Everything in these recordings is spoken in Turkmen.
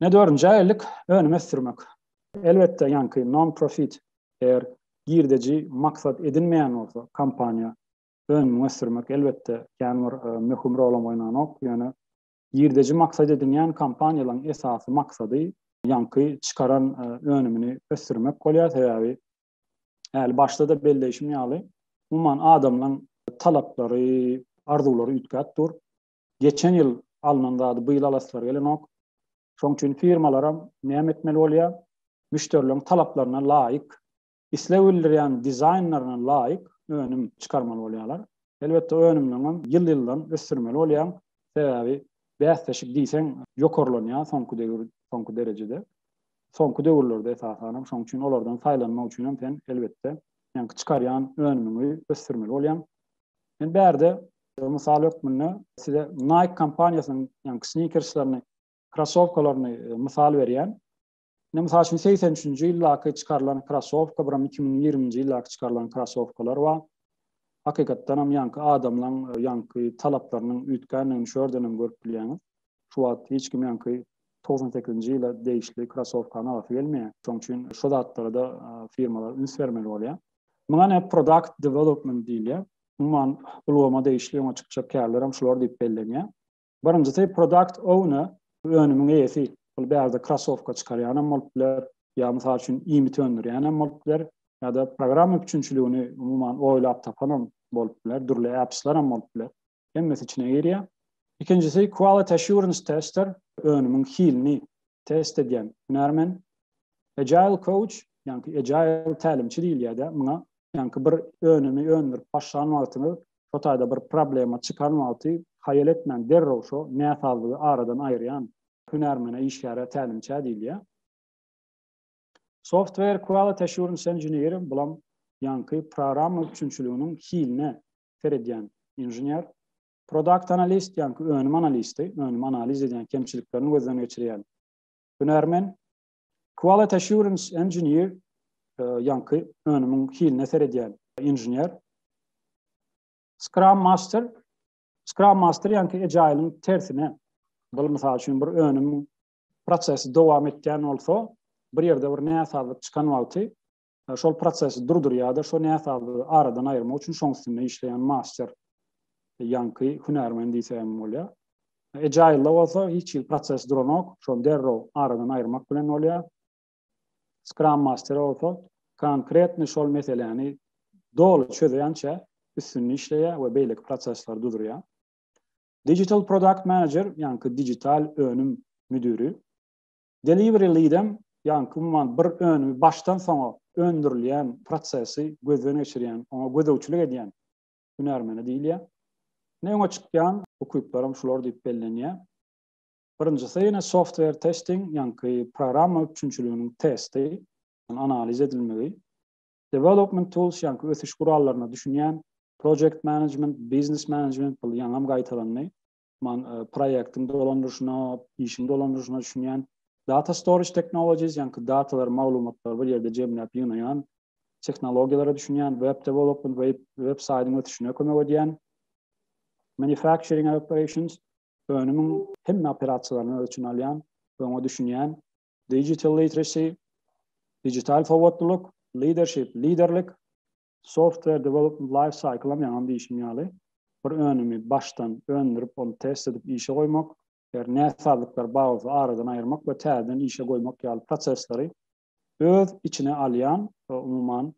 Ne dördünji ägirlik, önüm ösdürmek. Elbetde, ýaňky non-profit, eger girdeji maksat edinmeýän bolsa, kompaniýa, önümiňi ösdürmek, elbetde, kän bir möhüm rolam oýnanok, ýöne girdeji maksat edinýän kompaniýalaryň esasy maksady ýaňky çykaran önümini ösdürmek bolýar, sebäbi Häli başda-da belleýşim ýaly, umuman adamlaryň talaplary, arzuwlary üýtgäp dur. Geçen ýyl alnan zady bu ýyl alasylary gelenok. Şonuň üçin firmalaram näme etmeli bolýar? Müşderileriň talaplaryna laýyk, isleg bildirýän dizaýnlaryna laýyk önüm çykarmaly bolýarlar. Elbetde, önümlerini hem ýyl-ýyldan ösdürmeli bolýar. Sebäbi bäsleşik diýseň ýokarlanýar soňky döwür, soňky derejede. Soňky döwürlerde esasan hem şoň üçin olardan saýlanmak üçin hem sen elbetde seňki çykarýan önümiňi ösdürmeli bolýaň. Men bärde mysal hökmünde size Nike kompaniýasynyň ýa-ni sneakerslerini, krossowkalaryny e, mysal berýän. Ine mysal üçin 83-nji ýyldaky çykarylan krossowka, biram 2020-nji ýyldaky çykarylan krossowkalar bar. Hakykatdan hem ýaňky adamlaryň e, ýaňky talaplarynyň üýtgändigini şu ýerden hem görüp bilýäňiz. Şu wagt hiç kim ýaňky togsan sekizinji ýyla degişli krasowkany alasy gelmeýär. Şonuň üçin şu zatlara-da firmalar üns bermeli bolýar. Muňa ine product development diýilýär. Umuman, ulgama degişli öňe çykjak kärler hem şular diýip bellenýär. Birinjisi product owner, önümiň eýesi. Ol bärde krasowka çykarýan hem bolup biler, ýa mysal üçin iýmit öndürýän hem bolup biler, ýa-da programma üpjünçiligini umuman oýlap tapan hem bolup biler, dürli apslar hem bolup biler. hemmesi içine girýär. Ikinjisi quality assurance tester, önümiň hilini test edýän hünärmen. Agile coach, ýagny agile tälimçi diýilýär-de muňa. Ýagny bir önümi öndürip başlan wagtyňyz, şo taýda bir problema çykan wagty haýal etmän derrew şo näsazlygy aradan aýyrýan hünärmene, işgäre tälimçä diýilýär. Software quality assurance engineer, bulam ýagny programma üpjünçiliginiň hiline seredýän inžener, product analyst ýa-ki önüm analisti, önümi analiz edýän kemçiliklerini gözden geçirýän hünärmen, quality assurance engineer ýa-ki önümiň hiline seredýän inžener, scrum master, scrum master ýa-ki agile-iň tersine, bul mysal üçin bir önümiň prosesi dowam etýän bolsa, bir ýerde bir näsazlyk çykan wagty şol prosesi durdurýar-da, şo näsazlygy aradan aýyrmak üçin şoň üstünde işleýän master, ýaňky hünärmen diýse hem bolýar. Agile-da bolsa hiç hili proses duranok, şony derrew aradan aýyrmak bilen bolýar. Scrum master bolsa konkretny şol meseläni doly çözýänçä üstünde işleýär we beýleki prosesleri dudurýar. Digital product manager, ýaňky digital önüm müdüri, Delivery lead-em, ýagny umuman bir önümi başdan soňa öndürilýän prosesi gözden geçirýän, oňa gözegçilik edýän hünärmene diýilýär. Ine öňe çykýan ukyplaram şular diýip bellenýär. Birinjisi ine software testing, ýagny programma üpjünçiliginiň testi, analiz edilmegi. Development tools, ýagny ösüş gurallaryna düşünýän, project management, business management, bul ýaňam gaýtalandy. man proýektiň dolandyryşyna, işiň dolandyryşyna düşünýän data storage technologies, ýaňky datalary, maglumatlary bir ýerde jemläp ýygnaýan tehnologiýalara düşünýän, web development, web, web saýdyň ösüşine kömek edýän, manufacturing operations, önümiň hemme operasiýalaryny öz içine alýan, öňe düşünýän, digital literacy, digital sowatlylyk, leadership, liderlik, Software Development Life Cycle'am ýaňam diýişim ýaly, bir önümi başdan öndürip, ony test edip işe goýmak, eger näsazlyklar bar bolsa aradan aýyrmak we täzeden işe goýmak ýaly prosesleri öz içine alýan, umuman,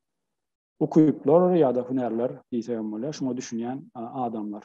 ukyplar ýa-da hünärler diýsegem bolýar, şuňa düşünýän adamlar.